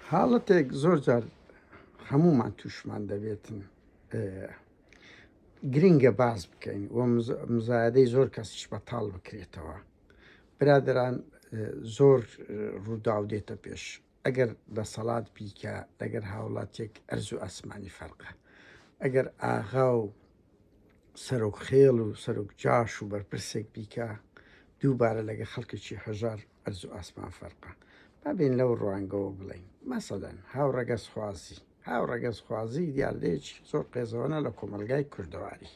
حاڵەتێک زۆر جار هەمومان تووشمان دەبێتن گرنگە باز بکەین و مزایدەی زۆر کەسیش بەتاڵ بکرێتەوە برادران زۆر ڕووداو دێتە پێش ئەگەر دەسەڵات بیکە لەگەر هاوڵاتێک ئەرز و ئاسمانی فەرقە ئەگەر ئاغا و سەرۆک خێڵ و سەرۆک جاش و بەرپرسێک بیکە دووبارە لەگە خەڵکیی هەژار ئەرز و ئاسمان فەرقە. با بێن لەو ڕوانگەوە بڵێین. مەسەلەن، هاوڕەگەزخوازی. هاوڕەگەزخوازی دیاردەیەکی زۆر قێزەوەنە لە کۆمەڵگای کوردەواری.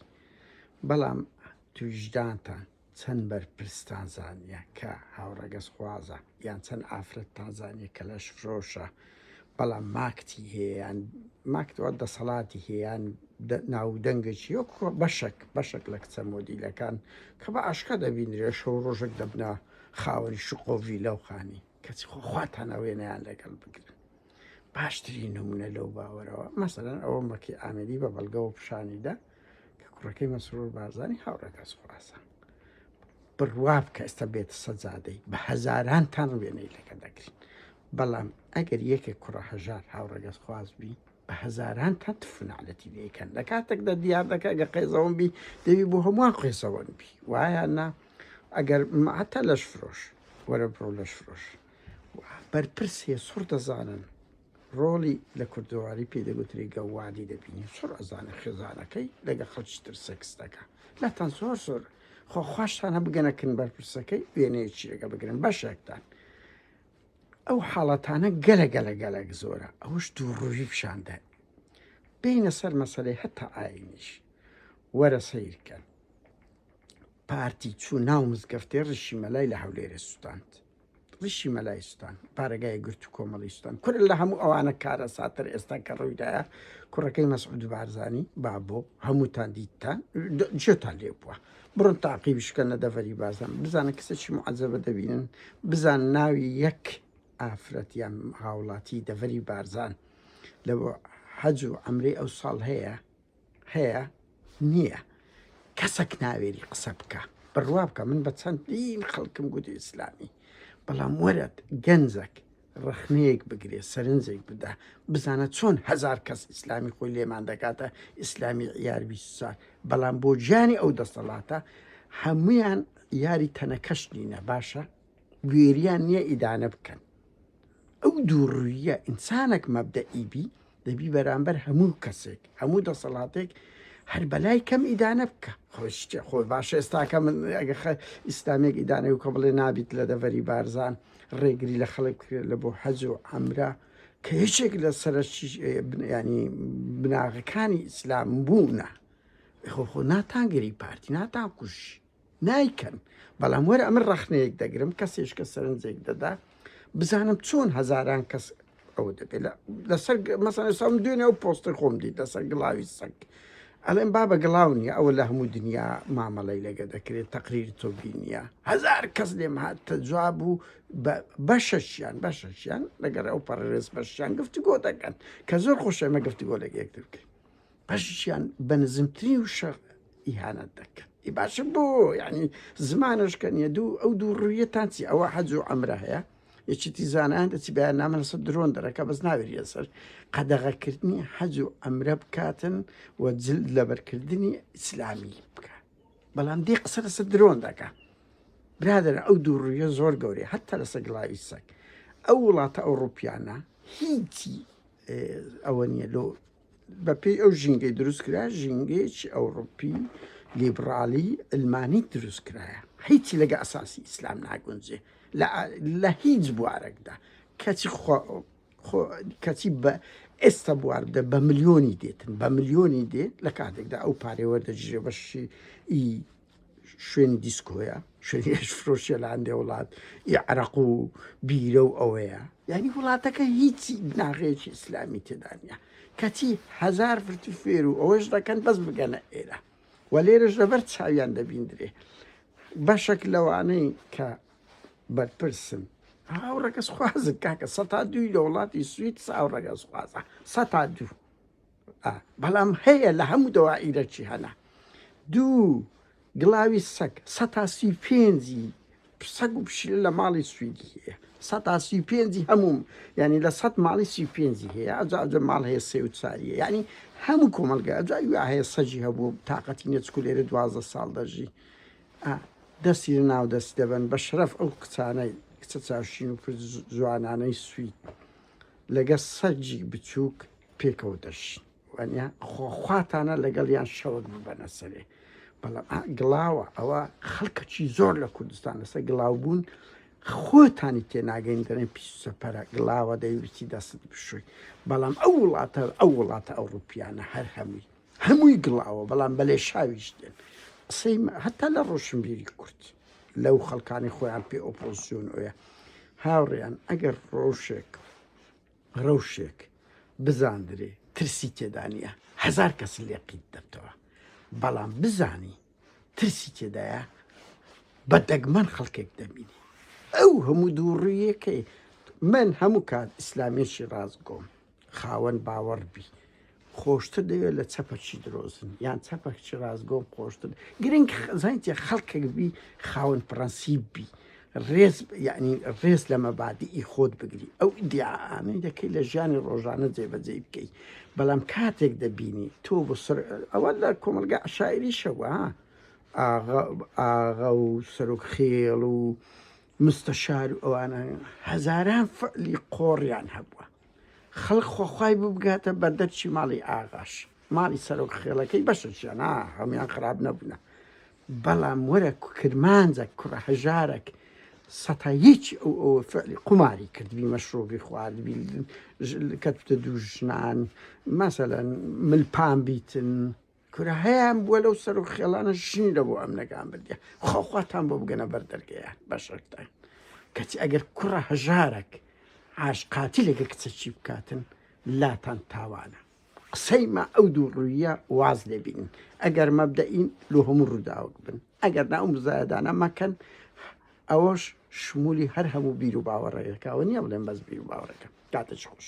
بەڵام تویژدانتان چەند بەرپرستان زانیە کە هاوڕەگەزخوازە یان چەند ئافرەتتان زانیە کە لەش فرۆشە، بەڵام ماکتی هەیەیان ماکتەوە دەسەڵاتی هەیەیان ناودەنگەکی وەک بەشک بەشک لە کچە مۆدیلەکان کە بە ئاشکا دەبینرێ شەو ڕۆژێک دەبنە خاوەنی شوق و ڤیلا و خانی کەچی خۆ خواتان ئەوێنەیان لەگەڵ بگرن باشتری نمونە لەو باوەرەوە مەسەرەن ئەوە مەکی ئامێدی بە بەڵگەوە پیشانیدا کە کوڕەکەی مەسرور بارزانانی هاوڕەکە سوخواسە بڕواب کە ئێستا بێتە سەجادەی بە هەزارانتان وێنەی لەکە دەکرین بەڵام ئەگەر یەکێک کوڕە هەژار هاوڕەگەز خواز بی هەزاران تف نەعلەتی لێ کەن لە کاتێکدا دیاردەکە گە قێزەوەن بی دەوی بۆ هەمووان قێسەوەن بی وایە نا ئەگەر مەعتە لەش فرۆش وەرە بڕۆ لەش فرۆش بەرپرس هێ سڕ دەزانن ڕۆڵی لە کوردواری پێ دەگوتری گەوادی دەبینی سڕ ئەزانە خێزانەکەی لەگە خەچتر سکس دەکە لەتان زۆر زۆر خۆ خوشتانە بگەنەکن بەرپرسەکەی وێنەیەکی لەگە بگرن بەشێکتان ئەو حاڵەتانە گەلە گەلە گەلەک زۆرە ئەوش دوو ڕووی پیشاندە بینە سەر مەسەرەی هەتا ئاینیش وەرە سیرکەن پارتی چوو ناو مزگەفتێ ڕشی مەلای لە هەولێرە سوستاند ڕشی مەلای سوستان پارێگای گرت و کۆمەڵی سوستان کورە لە هەموو ئەوانە کارە ساتر ئێستا کە ڕوویدایە کوڕەکەی مەسعود بارزانانی بابۆ هەمووتان دیتان جێتان لێ بووە بڕۆن تاقیبش کەن لە دەڤەری بازان بزانە کەسە چی معەزەبە دەبینن بزان ناوی یەک ئافرەت یان هاوڵاتی دەڤەری بارزان لە حەج و ئەمری ئەو ساڵ هەیە هەیە نییە کەسەک ناوێری قسە بکە بڕوا بکە من بە چەندین خەڵکم گوتی ئیسلامی بەڵام وەرەت گەنجەک ڕەخنەیەک بگرێ سەرنجێک بدا بزانە چۆن هەزار کەس ئیسلامی خۆی لێمان دەکاتە ئیسلامی عیار بیست سال بەڵام بۆ گیانی ئەو دەسەڵاتە هەمویان یاری تەنەکەش نینە باشە گوێریان نییە ئیدانە بکەن ئەو دووڕویە ئینسانەک مەبدەئی بی دەبی بەرامبەر هەموو کەسێک هەموو دەسەڵاتێک هەر بەلای کەم ئیدانە بکە خۆشتێ خۆی باش ئێستاکە من ئەگە ئیسلامیک ئیدانە و کە بڵێ نابیت لە دەڤەری بارزان ڕێگری لە خەڵک لە بۆ حەز و ئەمرا کە هیچێک لە سەرشی ینی بناغەکانی ئیسلام بوونە خۆ خۆ ناتانگەری پارتی ناتان کوشی نایکەن بەڵام وەرە ئەمن ڕەخنەیەک دەگرم کەسێش کە سەرنجێک دەدا بزانم چۆن هەزاران کەس ئەوە دەبێت لەسەر مەسەسام دوێنێ ئەو پۆستی خۆم دی دەسەر گڵاوی سەک ئەلێن بابە گڵاو نیە ئەوە لە هەموو دنیا مامەڵی لەگە دەکرێت تەقریر تۆبی نیە هزار کەس لێم هاات تە جواب و بەشەشیان بەشەشیان لەگەر ئەو پەڕێز بەشیان گفتوگۆ دەکەن کە زۆر خۆشەمە گفتوگۆ لەگە یەکتر بکەین بەشیان بە نزمتری و شەڕ ئیهانەت دەکەن ئی باشە بۆ یعنی زمانەشکە نیە دوو ئەو دوو ڕویەتانسی ئەوە حەج و ئەمرە هەیە یەکێتی زانان دەچی بەیان نامە لەسە درۆن دەرەکە بەس ناوێت لەسەر قەدەغەکردنی حەج و ئەمرە بکاتن و جل لەبەرکردنی ئیسلامی بکات بەڵام دی قسە لەسەر درۆن دەکات برادر ئەو دوو ڕویە زۆر گەورەی هەتا لەسە گڵاوی سەک ئەو وڵاتە ئەوروپیانە هیچی ئەوە نیە لۆ بە پێی ئەو ژینگەی دروستکرا ژینگەیەکی ئەوروپی لیبرالی ئەلمانی دروستکرایە هیچ لەگە ئەساسی ئیسلام ناگونجێ لە هیچ بوارەکدا کەچی کەچی بە ئێستا بواردە بە ملیۆنی دێتن بە ملیۆنی دێت لە کاتێکدا ئەو پارێوەەردەگیرێ بەشی ئی شوێنی دیسکۆیە شوێنیش فرۆشیە لە هەندێ وڵات عراق و بیرە و ئەوەیە یعنی وڵاتەکە هیچی ناغێکی ئیسلامی تێدانە کەچی هزار فرتی فێر و ئەوەش دەکەن بەس بگەنە ئێرە و لێرەش لەبەر چاویان دەبیندرێ بەشەک لەوانەی کە بەرپرسن هاو ڕەگەز خوازن کاکە سە تا دووی لە وڵاتی سوید ساو ڕەگەز خوازە سە تا دوو ئا بەڵام هەیە لە هەموو دەوائیرەکی هەنە دوو گڵاوی سەگ سەتا سی و پێنجی سەگ و پشیلە لە ماڵی سویدی هەیە سەتا سی و پێنجی هەموم یعنی لە سەد ماڵی سی و پێنجی هەیە ئەجا ئەجا ماڵ هەیە سێ و چاریە یعنی هەموو کۆمەلگا ئەجا یا هەیە سەجی هەبوو تااقەتی نێت کولێرە دوازدە ساڵ دەژی ئا دەستی لە ناو دەست دەبن بە شرف ئەو کچانەی کچە چاوشین و پر جوانانەی سوید لەگەر سەگی بچووک پێکەوە دەژین وانە خۆخواتانە لەگەڵیان شەوەک ببەنە سەرێ بەڵام گڵاوە ئەوە خەڵکەکی زۆر لە کوردستان لەسەر گڵاو بوون خۆتانی تێناگەین دەێن پیسەپەرە گڵاوە دەیویستی دەست بشوی بەڵام ئەو وڵاتە ئەو وڵاتە ئەوروپیانە هەر هەمووی هەمووی گڵاوە بەڵام بەلێشاویش دێن قسەی هەتا لە ڕۆشنبیری کورد لەو خەڵکانی خۆیان پێ ئۆپۆزیسیۆن ئۆە هاوڕێیان ئەگەر ڕۆژێک ڕەوشێک بزاندرێ ترسی تێدانە هزار کەس لێقیت دەبتەوە بەڵام بزانی ترسی تێدایە بە دەگمەن خەڵکێک دەبینی ئەو هەموو دووڕیەکەی من هەموو کات ئیسلامیشی ڕاست گۆم خاوەن باوەڕ بی خۆشتر دەوێت لە چەپەکی درۆزن یان چەپەکچی ڕاستگۆم خۆشتر گرنگ زانتێ خەڵکێک بی خاون پرەنسیب بی ڕێز یعنی ڕێز لە مەبادی خۆت بگری ئەو ئیدیعاانەی دەکەی لە ژیانی ڕۆژانە جێبەجێ بکەی بەڵام کاتێک دەبینی تۆ بسر ئەوە لە کۆمەلگا عشاعریشەوە ئاغا و سەرۆک خێڵ و مستەشار و ئەوانە هەزاران فعلی قۆڕیان هەبووە خەڵک خۆ خوای ببگاتە بە دەرچی ماڵی ئاغاش ماڵی سەرۆک خێڵەکەی بەشە چیانە هەموان خراپ نەبوونە بەڵام وەرە کرمانجە کوڕە هەژارەک سەتا یەکی ئەو ئەوە فعلی قوماری کردبی مەشروبی خواردبی کەتە دوو ژنان مەسەلەن ملپان بیتن کورە هەیان بووە لەو سەر و خێڵانە ژنی لە بۆ ئەم نەگان بردە خۆخواتان بۆ بگەنە بەر دەرگەیان بەشەکتان کەچی ئەگەر کوڕە هەژارەک عاشقاتی لەگە کچە چی بکاتن لاتان تاوانە قسەی ما ئەو دوو ڕوویە واز لێبین ئەگەر مەبدەین لۆ هەموو ڕووداوک بن ئەگەر ناو مزایدانە مەکەن ئەوەش شمولی هەر هەموو بیر و باوەڕێکەکەەوە نیە بڵێن بەس بیر و باوەڕەکە کاتە خۆش.